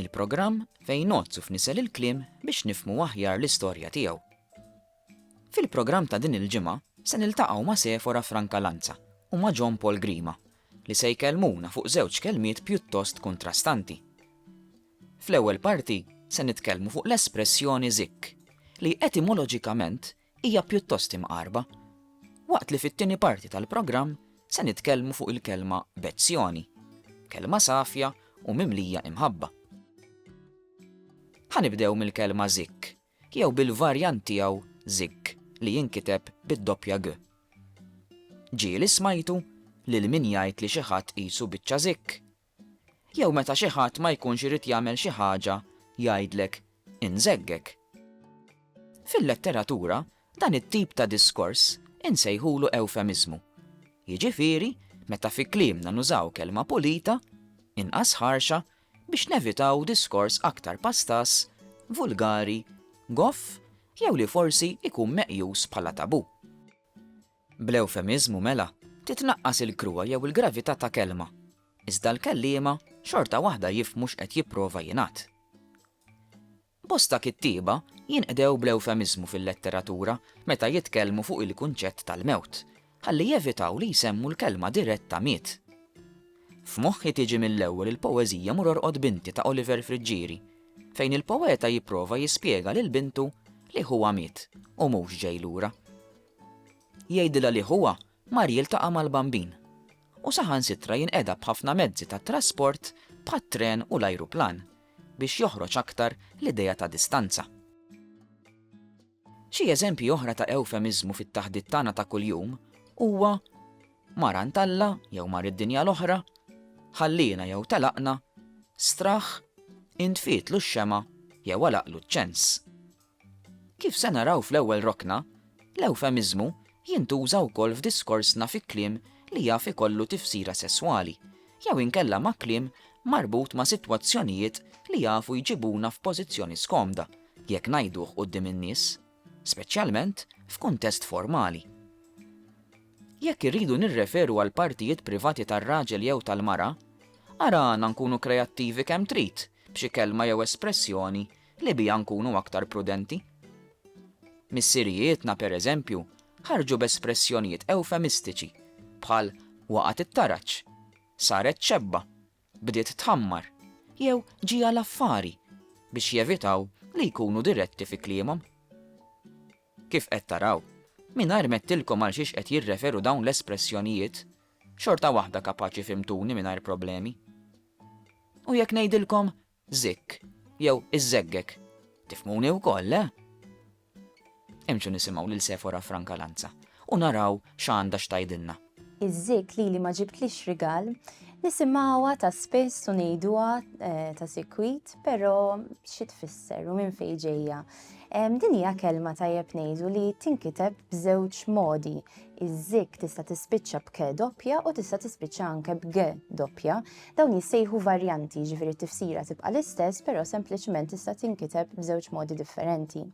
Il-programm fejn ngħodd u fnisel il-kliem biex nifhmu aħjar l-istorja tiegħu. Fil-programm ta' din il-ġimgħa se niltaqgħu ma' Sephora Franca Lanza u ma' John Paul Grima li se jkellmuna fuq żewġ kelmiet pjuttost kuntrastanti. Fl-ewwel parti se nitkellmu fuq l-espressjoni zikk li etimoloġikament hija pjuttost imqarba, waqt li fit-tieni parti tal-programm se nitkellmu fuq il-kelma Bezzjoni, kelma safja u mimlija imħabba. Ħa nibdew mill-kelma Zikk, jew bil-varjant tiegħu Zigg li jinkiteb bid-doppja g. Ġieli smajtu lil min jgħid li xi ħadd qisu biċċa zikk, Jew meta xi ħadd ma jkunx irid jagħmel xi ħaġa jgħidlek, Inżeggek. Fil-letteratura, dan it-tip ta' diskors insejħulu ewfemiżmu. Jiġifieri, meta fi kliemna nużaw kelma pulita, inqas ħarxa, biex nevitaw diskors aktar pastaż, vulgari, goff jew li forsi jkun meqjus bħala tabù. Bl-ewfemiżmu mela titnaqqas il-kruha jew il-gravità ta' kelma, iżda l-kelliema xorta waħda jifhmu x'qed jipprova jingħad. Bosta kittieba jinqdew bl-ewfemiżmu fil-letteratura meta jitkellmu fuq il-kunċett tal-mewt, ħalli jevitaw li jsemmu l-kelma diretta miet. F'moħħi tiġi mill-ewwel il-poeżija Mur Orqod Binti ta' Oliver Friggieri, fejn il-poeta jipprova jispjega lil bintu li ħuha miet u mhux ġej lura. Jgħidilha li ħuha mar jiltaqa' mal-bambin u saħansitra jinqeda b'ħafna mezzi ta' trasport bħat-tren u l-ajruplan biex joħroġ aktar l-idea ta' distanza. Xi eżempji oħra ta' ewfemiżmu fit-taħdit tagħna ta' kuljum huwa mar għand Alla jew mar id-dinja l-oħra, ħalliena jew telaqna, straħ, intfietlu x-xemgħa jew għalaqlu ċ-ċens. Kif se naraw fl-ewwel rokna, l-ewfemiżmu jintuża wkoll f'diskorsna fi kliem li jaf ikollu tifsira sesswali, jew inkella ma' kliem marbut ma' sitwazzjonijiet li jafu jġibuna f'pożizzjoni skomda jekk ngħiduh quddiem in-nies, speċjalment f'kuntest formali. Jekk irridu nirreferu għal partijiet privati tar-raġel jew tal-mara, ara għana nkunu kreattivi kemm trid b'xi kelma jew espressjoni li biha nkunu aktar prudenti. Missirijietna, per eżempju, ħarġu b'espressjonijiet ewfemistiċi bħal waqgħet it-taraġ, saret xebba, bdiet tħammar jew ġieha l-affari biex jevitaw li jkunu diretti fi kliemhom. Kif qed taraw, mingħajr m'għedtilkom għal xiex qed jirreferu dawn l-espressjonijiet, xorta waħda kapaċi fhimtuni mingħajr problemi. U jekk ngħidilkom Zikk, jew iż-żeggek. Tifhmuni wkoll, le? Imxu nisimgħu lil Sefora Franca Lanza u naraw x'għandha x'tgħidilna. Iż-zikk lili ma ġibtlix rigal. Nisimgħuha ta' spiss u ngħiduha ta' sikwit, però xi tfisser u minn fejn ġejja? Din hija kelma tajjeb ngħidu li tinkiteb b'żewġ modi. Iż-zikk tista' tispiċċa b'ke doppja u tista' tispiċċa anke b'ge doppja. Dawn jissejħu varjanti, jiġifieri t-tifsira tibqa' l-istess però sempliċement tista' tinkiteb b'żewġ modi differenti.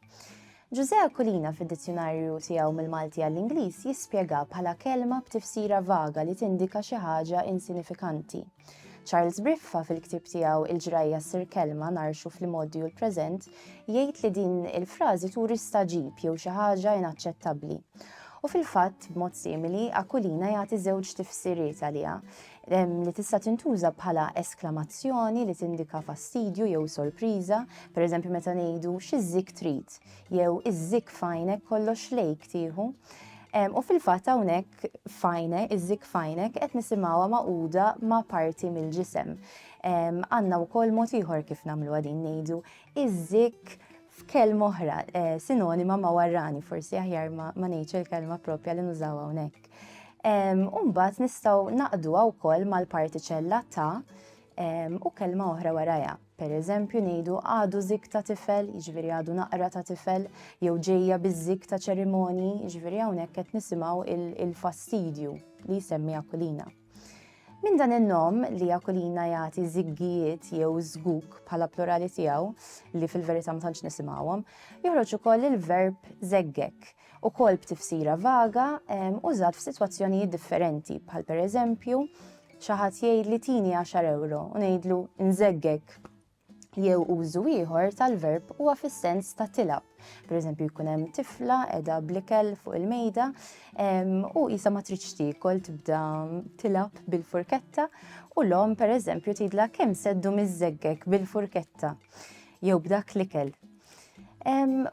Ġużè Aquilina fid-dizzjunarju tiegħu mill-Malti għall-Ingliż jispjegha bħala kelma b'tifsira vaga li tindika xi ħaġa insinifikanti. Charles Briffa fil-ktieb tiegħu Il-ġrajja ssir kelma ngħarxu fl-imgħoddi u l-preżent jgħid li din il-frażi turi staġib jew xi ħaġa inaċċettabbli. U fil-fatt, b'mod simili, Aquilina jagħti żewġ tifsiriet għaliha. li tista' tintuża bħala esklamazzjoni li tindika fastidju jew sorpriża, pereżempju meta ngħidu xi żikk trid jew iż-żikk f'għajnek kollox lejk tieħu. U fil-fatt hawnhekk f'għajne, iż-żikk f'għajnek qed nisimgħuha magħquda ma' parti mill-ġisem. Għandna wkoll mod ieħor kif nagħmluha din ngħidu iż-żikk f'kelma oħra, eh, sinonima ma' warrani, forsi aħjar ma ngħidx il-kelma propja li nużaw hawnhekk. Umbat nistaw naqdu wkoll mal-partiċella ta' u kelma oħra waraja. Per eżempju ngħidu għadu zik ta' tifel, jiġifieri għadu naqra ta' tifel, jew ġejja biż-zik ta' ċerimoni, jiġifieri hawnhekk qed nisimgħu il-fastidju li jsemmi Akulina. Minn dan in-nom li Akulina jagħti żiggijiet jew żguk bħala plurali tiegħu li fil-verità ma tantx nisimgħuhom, joħroġ ukoll il-verb żeggek, ukoll b'tifsira vaga użat f'sitwazzjonijiet differenti bħal pereżempju xi ħadd jgħidli tini għaxar ewro u ngħidlu nżeggek jew użu ieħor tal-verb huwa fis-sens ta' tilab. Per eżempju, jkun hemm tifla edha blikel fuq il-mejda u jisa ma tridx tiekol tibda tilab bil-furketta u l-om per eżempju tidla kemm seddu miż-żeggek bil-furketta jew b'dak l-ikel.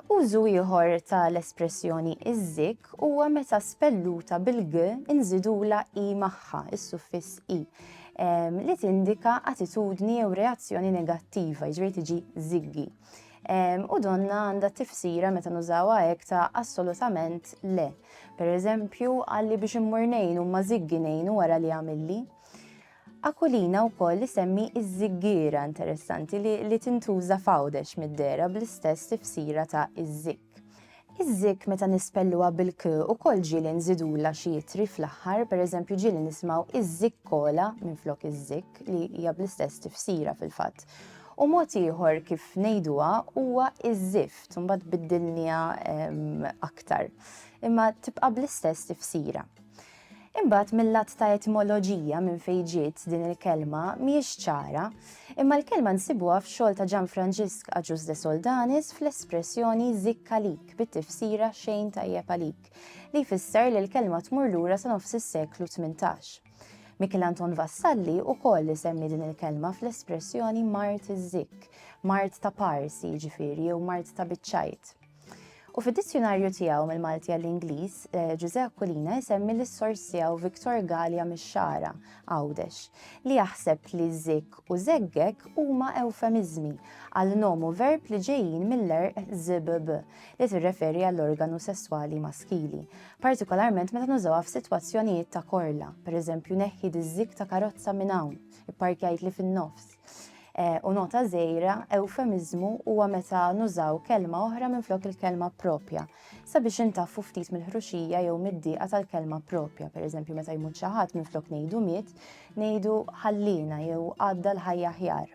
Użu ieħor tal-espressjoni iż-żikk huwa meta spelluta bil-g inżidula i magħha, is-suffiss i, li tindika attitudni jew reazzjoni negattiva, jiġri tiġi żiggi. U donna għandha tifsira meta nużawha hekk ta' assolutament le. Per eżempju, għalli biex immur ngħinu ma żiggi ngħinu wara li għamilli. Aquilina wkoll isemmi iż-żiggiera interessanti li, li tintuża f'Għawdex mid-dehra bl-istess tifsira ta' iż-żikk. Iż-żikk meta nispelluha bil-k ukoll ġieli nżidulha xi ittri fl-aħħar, pereżempju ġieli nismgħu iż-żikkola minflok iż-żikk li hija bl-istess tifsira fil-fatt. U mod ieħor kif ngħiduha huwa iż-żift, imbagħad biddilniha aktar. Imma tibqa' bl-istess tifsira. Imbagħad mil-lat ta' etimoloġija minn fejn ġiet din il-kelma mhijiex ċara, imma l-kelma nsibuha f'xogħol ta' Ġan Franġisk Agius de Soldanis fl-espressjoni zikk għalik bit-tifsira xejn tajjeb għalik, li jfisser li l-kelma tmur lura sa nofs is-seklu tmintax. Mikiel Anton Vassalli wkoll isemmi din il-kelma fl-espressjoni mard iż-zikk, mard ta' pars jiġifieri jew mard ta' biċċajt. U fid-dizzjunarju tiegħu mill-Malti għall-Ingliż, eh, Ġużè Aquilina jsemmi lis sors tiegħu Viktor Galja mix-Xara, Għawdex, li jaħseb li zik u zeggek huma ewfemiżmi għal nomu verb li ġejjin mill-erq zibb li tirreferi għall-organu sesswali maskili, partikolarment meta nużawha f'sitwazzjonijiet ta' korla, pereżempju neħħi diż-zik ta' karozza minn hawn, ipparkjajt li fin-nofs. U nota żejra, eufemiżmu huwa meta nużaw kelma oħra minflok il-kelma propja sabiex intaffu ftit mill-ħruxija jew mid-dieqa tal-kelma propja. Pereżempju, meta jmut xi ħadd minflok ngħidu miet, ngħidu ħallina jew għadda l-ħajja ħjar.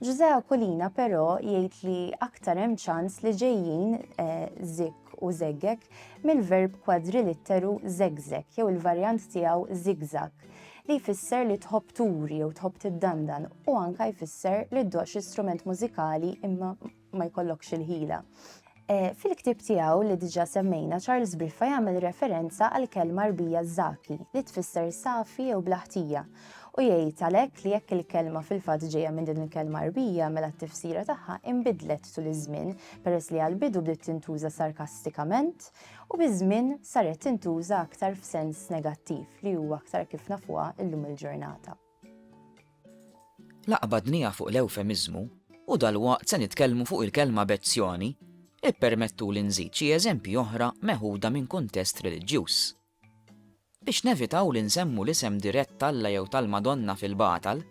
Ġużè Akulina però jgħid li aktar hemm ċans li ġejjin eh, zik u zeggek mill-verb kwadrilitteru zegzek jew il-varjant tiegħu zigzag li jfisser li tħobb turi jew tħobb tiddandan u anka jfisser li ddoqx istrument mużikali imma ma jkollokx il-ħila. E, fil-ktib tiegħu li diġà semmejna Charles Briffa jagħmel referenza għal kelma rbija żaki li tfisser safi jew blaħtija u jgħid għalhekk li jekk il-kelma fil-fatt ġejja minn din il-kelma rbija mela t-tifsira tagħha imbidlet tul iż-żmien peress li għal-bidu bdiet tintuża sarkastikament u biż-żmien saret tintuża aktar f'sens negattiv li huwa aktar kif nafuha llum il-ġurnata. Laqgħa badnija fuq l-ewfemiżmu u dalwaqt se nitkellmu fuq il-kelma bezzjoni, ippermettuli nżid xi eżempji oħra meħuda minn kuntest reliġjuż. Biex nevitaw li nsemmu l-isem dirett t'Alla jew tal-Madonna fil-batal,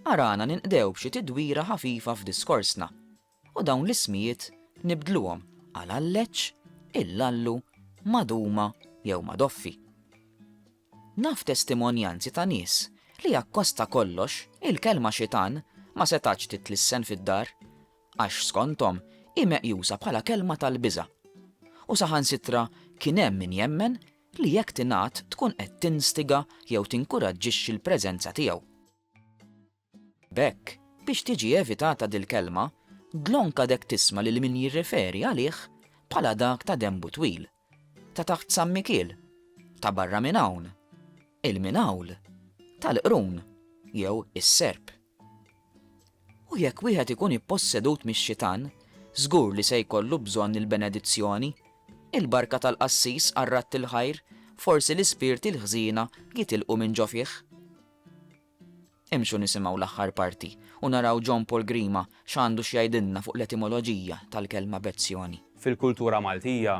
arana ninqdew b'xi tidwira ħafifa f'diskorsna U dawn l-ismijiet nibdluhom għal Alleċċ, Illallu, Maduma jew Madoffi. Naf testimonjanzi ta' nies li akkost ta' kollox il-kelma xitan ma setgħatx titlissen fid-dar għax skonthom hi meqjusa bħala kelma tal-biża'. U saħansitra kien hemm min jemmen li jekk tingħad tkun qed tinstiga jew tinkuraġġixxi l-preżenza tiegħu. B'hekk, biex tiġi evitata dil-kelma, dlonk għadek tisma' lil min jirreferi għalih bħala dak ta' denbu twil, ta' taħt San Mikiel, ta' barra minn hawn, il-Minawl, tal-Qrun jew is-Serp. U jekk wieħed ikun ippossedut mix-xitan, żgur li se jkollu bżonn il-benedizzjoni, il-barka tal-qassis għar-ratt il-ħajr, forsi l-ispirti l-ħżiena jitilqu minn ġo fih. Imxu nisimgħu l-aħħar parti u naraw John Paul Grima x'għandu x'jgħidilna fuq l-etimoloġija tal-kelma bezzjoni. Fil-kultura Maltija,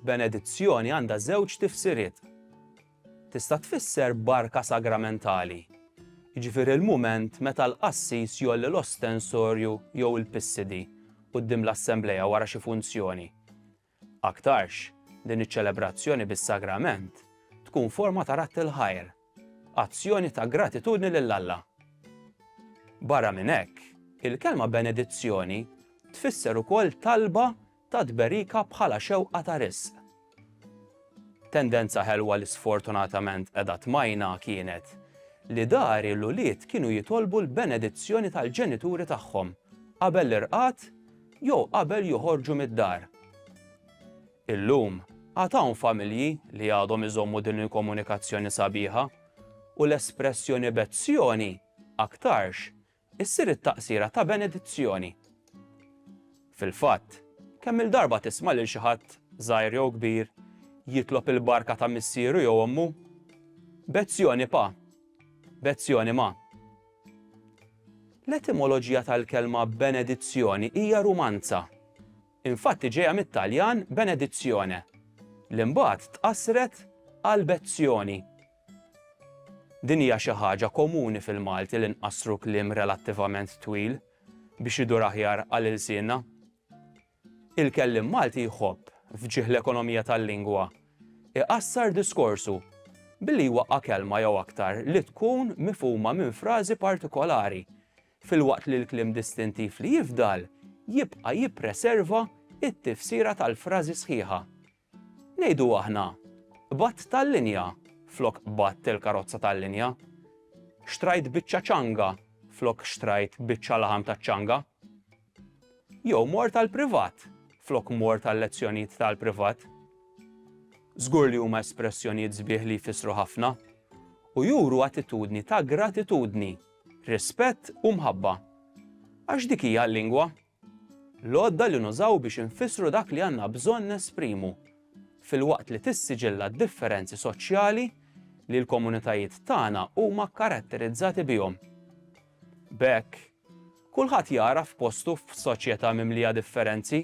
benedizzjoni għandha żewġ tifsiriet. Tista' tfisser barka sagramentali, jiġifieri l-mument meta l-qassis jgħolli l-ostensorju jew il-pissidi quddiem l-assemblea wara xi funzjoni. Aktarx, din iċ-ċelebrazzjoni bis-sagrament tkun forma ta' radd il-ħajr, azzjoni ta' gratitudni lil Alla. Barra minn hekk, il-kelma benedizzjoni tfisser ukoll talba ta' tberika bħala xewqa ta' riżq. Tendenza ħelwa li sfortunatament qiegħda tmajna kienet li dari l-ulied kienu jitolbu l-benedizzjoni tal-ġenituri tagħhom qabel l-irqad jew qabel joħorġu mid-dar. Illum, għad hawn familji li għadhom iżommu din il-komunikazzjoni sabiħa, u l-espressjoni bezzjoni aktarx issir it-taqsira ta' benedizzjoni. Fil-fatt, kemm-il darba tisma' lil xi ħadd, żgħir jew kbir, jitlob il-barka ta' missieru jew ommu? Bezzjoni pa! Bezzjoni ma! L-etimoloġija tal-kelma benedizzjoni hija Rumanza. Infatti ġejja mit-Taljan benedizione, li mbagħad tqassret għal bezzjoni. Din hija xi ħaġa komuni fil-Malti li nqassru kliem relattivament twil biex idur aħjar għal ilsienna. Il-kelliem Malti jħobb, f'ġieħ l-ekonomija tal-lingwa, iqassar diskorsu billi jwaqqa' kelma jew aktar li tkun mifhuma minn frażi partikolari, filwaqt li l-kliem distintiv li jifdal jibqa' jippreserva t-tifsira tal-frażi sħiħa. Ngħidu aħna, Qbadt tal-linja flok qbadt il-karozza tal-linja. Xtrajt biċċa ċanga flok xtrajt biċċa laħam taċ-ċanga. Jew mort għall-privat flok mort għal-lezzjonijiet tal-privat. Żgur li huma espressjonijiet sbieħ li jfissru ħafna u juru attitudni ta' gratitudni, rispett u mħabba. Għax dik hija l-lingwa. L-għodda li nużaw biex infissru dak li għandna bżonn nesprimu, filwaqt li tissiġilla d-differenzi soċjali li l-komunitajiet tagħna huma kkaratterizzati bihom. B'hekk, kulħadd jagħraf postu f'soċjetà mimlija differenzi.